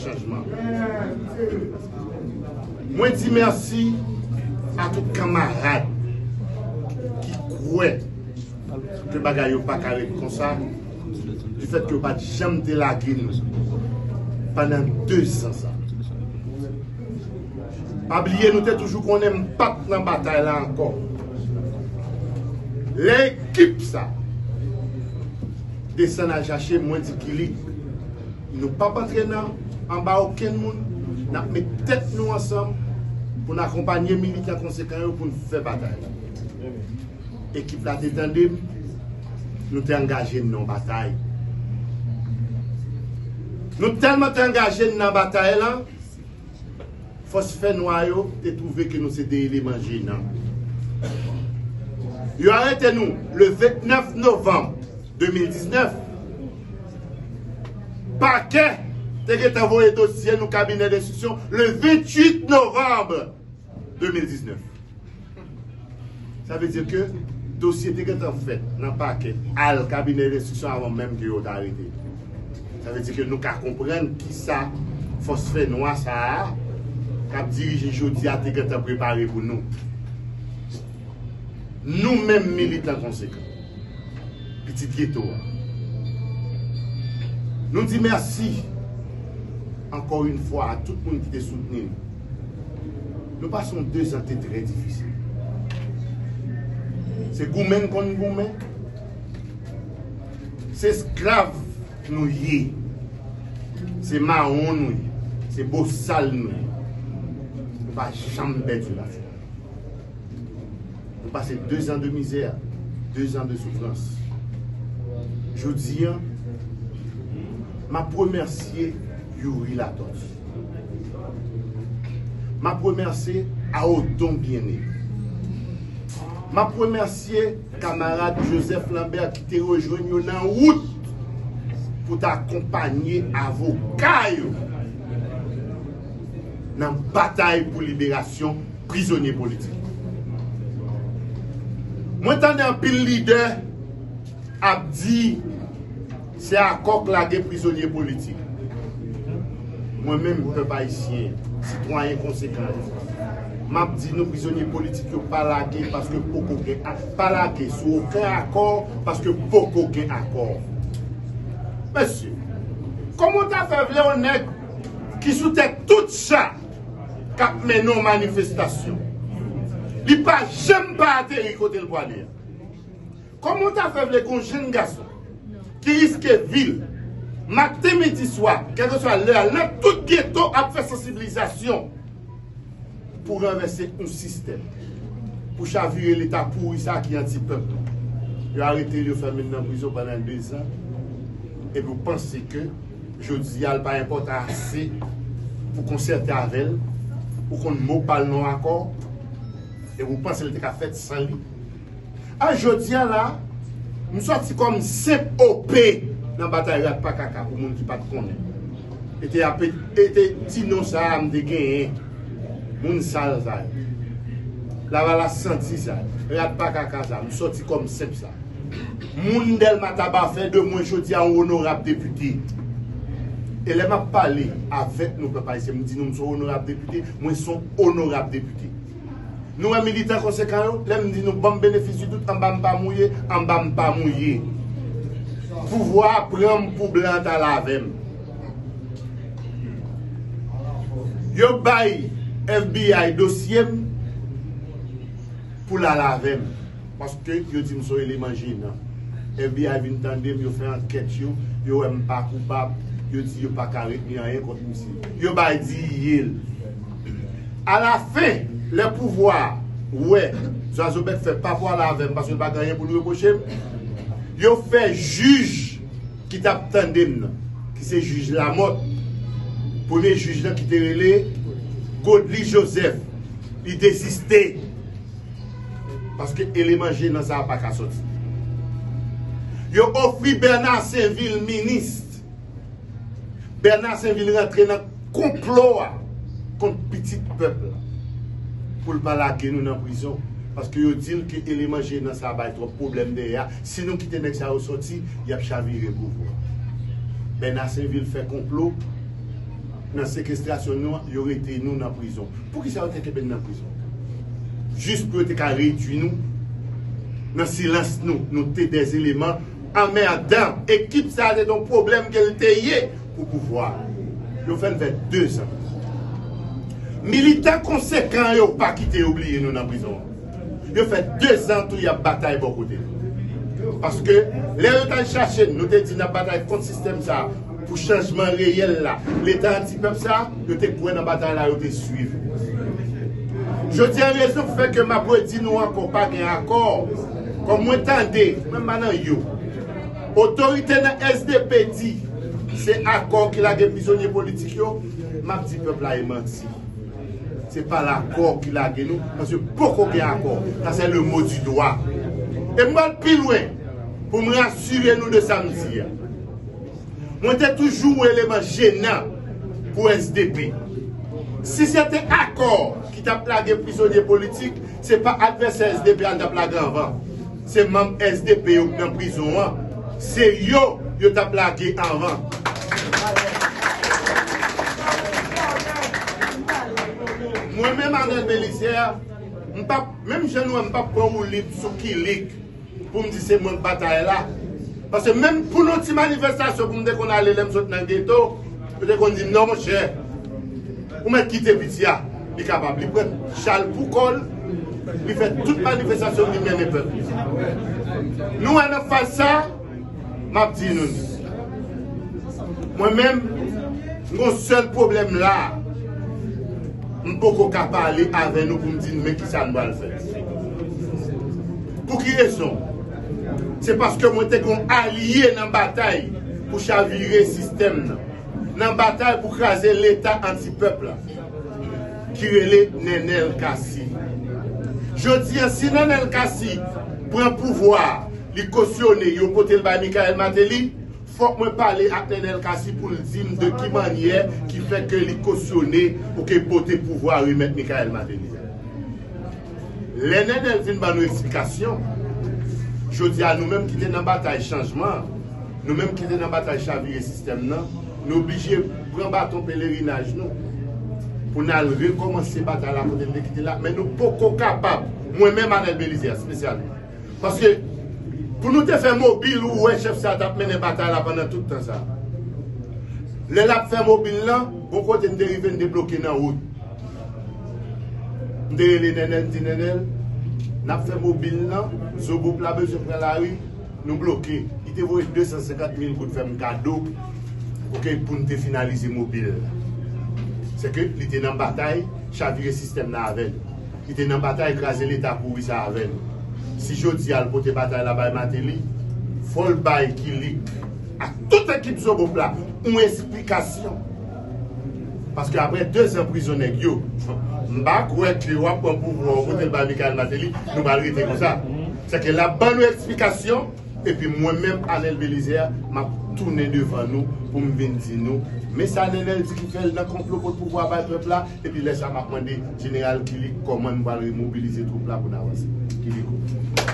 Chanjman. Mwen di mèsi a tout kanmarad ki kwè ke bagay yo pa ka ret konsa du fèt ke yo pa t janm delage nou pandan 2 zan sa. Pa bliye nou te toujou konnen m pa t nan batay la ankò. Lè ekip sa desann al chache mwen di kilik. Nou pap antre nan anba okenn moun, n ap met tèt nou ansanm pou n akonpanye militan konsekan yo pou n fè batay la. Ekip la te tande m, nou te angaje n nan yon batay. Nou tèlman te angaje n nan batay la, Fòs fè nwa yo te twouve ke nou se de eleman jenan. Yo arete nou le 29 novanm 2019. Pakè te gentan voye dosye nou kabinè denstriksyon le 28 novanm. 2019. Sa vle di ke dosye te gentan fèt nan pakè, al kabinè lenstriksyon avan menm ke yo ta arete yo. Sa vle di ke nou ka konprann ki sa fòs fè nwa sa a k ap dirije jodi a te gentan prepare pou nou. Nou menm militan konsekan, pitit geto a, nou di mèsi ankò yn fwa a tout moun ki te soutni nou. Nou pase yon dezan te trè difisil. Se goumen n konn goumen. Se esklav nou ye. Se mawon nou ye. Se bosal nou ye. Nou pa janm pèdi batay la. Nou pase dezan de mizè, dezan de soufrans. Jodi an, m ap remèsye. Youri Latortue. M ap remèsye Aodon Bien-Aimé. M ap remèsye kamarad Joseph Lambert ki te rejwenn yo nan wout pou ta akonpanye avoka yo nan batay pou liberasyon prizonye politik yo. Mwen tande anpil lidè ap di. Se akò k lage prizonye politik. Mwen menm, pèp ayisyen, sitwayen konsekan yo, m ap di nou prizonye politik yo pa lage paske poko gen pa lage sou oken akò paske poko gen akò. Mesye, kòman w ta fè vle yon nèg ki sou tèt tout cha k ap mennen yon manifestasyon, li pa janm pa ateri kote l pwale a? Koman w ta fè vle gon jenn gason ki riske vil maten midi swa kèlkeswa lè a lè tout geto ap fè sansiblizasyon pou ranvèse yon sistèm pou chavire leta pouri sa ki anti pèp lan yo arete l yo fèmen l nan prizon pandan 2 zan epi w panse ke jodi a l pa enpòtan ase pou konsète avè l ou konn mo pa l nan akò epi w panse l te ka fèt san li. A jodia la, m sòti kòm senp OP nan batay rat pa kaka pou moun ki pat konnen. E te ape e te ti non sa a m te genyen. Moun sal sa yo. Lavalas santi sa yo. Rat pa kaka sa a. M sòti kòm senp sa. Moun Dèlma Taba fè de mwen jodia yon onorab depite. E lè m ap pale avèk nou pèp ayisyen m di nou m son onorab depite, mwen son onorab depite. Nou wè militan konsekan yo, lè m di nou banm benefis di dout anba m pa mouye, anba m pa mouye. Pouvwa a pran m pou blan an ta la avè m. Yo bay FBI dosye m pou l al avè m paske yo di m son eleman jenan. FBI vin tande m, yo fè ankèt yo, yo wè m pa koupab, yo di yo pa ka retni anyen kont misye. Yo bay di ye l. Alafen, lè pouvwa a wè Zwazobèk fè pa pwale avè m paske l pa gen anyen pou l repwoche m, yo fè jij ki t ap tande m nan, ki se jij Lamòt, premye jij lan ki te rele Godly Joseph, li deziste paske eleman je nan sa a pa ka soti. Yo ofri Bèna Senvil minis. Bernard Saint vin rantre nan konplo a kont pitit pèp la pou l pa lage nou nan prizon paske yo di l ke eleman jenan sa bay twòp pwoblèm dèyè a si nou kite nèg sa yo sòti y ap chavire pouvwa Bernard Saint vin fè konplo nan sekestrasyon nou an yo rete nou nan prizon poukisa yo te kenbe n nan prizon jis pou yo te ka redwi nou nan silans nou nou te dèzeleman Anmèdan! Ekip sa se ton pwoblèm ke l te ye pou pouvwa a. Yo fè l fè 2 zan prizon. Militan konsekan yo pa kite yo bliye nou nan prizon an. Yo fè 2 zan tou y ap batay bò kote nou. Paske lè yo t al chache n, nou te di n ap batay kont sistèm sa a. Pou chanjman reyèl la, Leta anti-pèp sa, yo te kwè nan batay la, yo te swiv. Jodi a rezon k fè ke m ap redi nou ankò pa gen akò, kòm mwen tande, mwen pa nan yo, otorite nan sdp di se akò ki lage prizonye politik yo, m ap di pèp la e manti. Se pa lakò ki lage nou, paske poko gen akò. Sa se le mo di dwa. E m pral pi lwen pou m rasire nou de sa m di a. Mwen te toujou ou eleman jenan pou sdp. Si se te akò ki t ap lage prizonye politik, se pa advèsè sdp a n t ap lage anvan. Se manm sdp yo k nan prizon an, se yo yo t ap lage anvan. Mwen menm Arnel Belizaire, m p ap, menm jan nou wè m, m p ap pran woulib sou kilik. pou m di se mwen k batay la. Paske menm pou nou ti manifestasyon pou m te konn ale lè m sot nan geto, yo te konn di m non monchè, ou mèt kite piti a, li kapab, li pran chal pou kò l, li fè tout manifestasyon l, li mennen pèp li. Nou wè nan faz sa. Map di nou li. Mwen menm, m gon sèl pwoblèm la a. M poko ka pale avè nou pou m di nou men kisa nou pral fè. Pou ki rezon? Se paske mwen te gon alye nan batay pou chavire sistèm nan. Nan batay pou kraze leta anti pèp la. Ki rele Nenel Cassy. Jodi a si Nenel Cassy pran pouvwa a. li kosyone yo pote l bay Michaëlle Martelly, fòk mwen pale ak Nenel Cassy pou l di m de ki mannyè ki fè ke li kosyone ok pote pouvwa remèt Michaëlle Martelly a. Lè Nenel vin ban nou eksplikasyon, jodi a nou menm ki te nan batay chanjman an, nou menm ki te nan batay chavire sistèm nan, nou oblije pran baton pelerinaj nou pou n al rekòmanse batay la kote n te kite l la, men nou poko kapab, mwen menm Anel Belizaire espesyalman. Paske pou nou te fè mobil ou wè chèf sa tap mennen batay la pandan tout tan sa. Lè lap fè mobil lan, bon kote n te rive n te bloke nan wout. M te rele Nènèl m di Nènèl nap fè mobil lan, Zobop la bezwen pran lari, nou bloke. Li te voye 250 mil goud fè m kado ok pou n te finalize mobil la. Sèke li te nan batay chavire sistèm nan avè n. ki te nan batay kraze leta pouri sa avè nou si jodi a l pote batay la bay Mateli fò l bay Kilik ak tout ekip zobop la yon esplikasyon paske aprè 2 zan prizon nèg yo m pa kwè ke wap pran pouvwa w pote l bay Mickaël Martelly nou pral rete konsa se ke lap ban nou esplikasyon epi mwen menm Anel Belizaire map tounen devan nou pou m vin di nou men sa Nenel di ki fè l nan konplo pot pouvwa bay pèp la. Epi lè sa map mande Jeneral Killick kòman nou pral remobilize twoup la pou n avanse. Killick ou.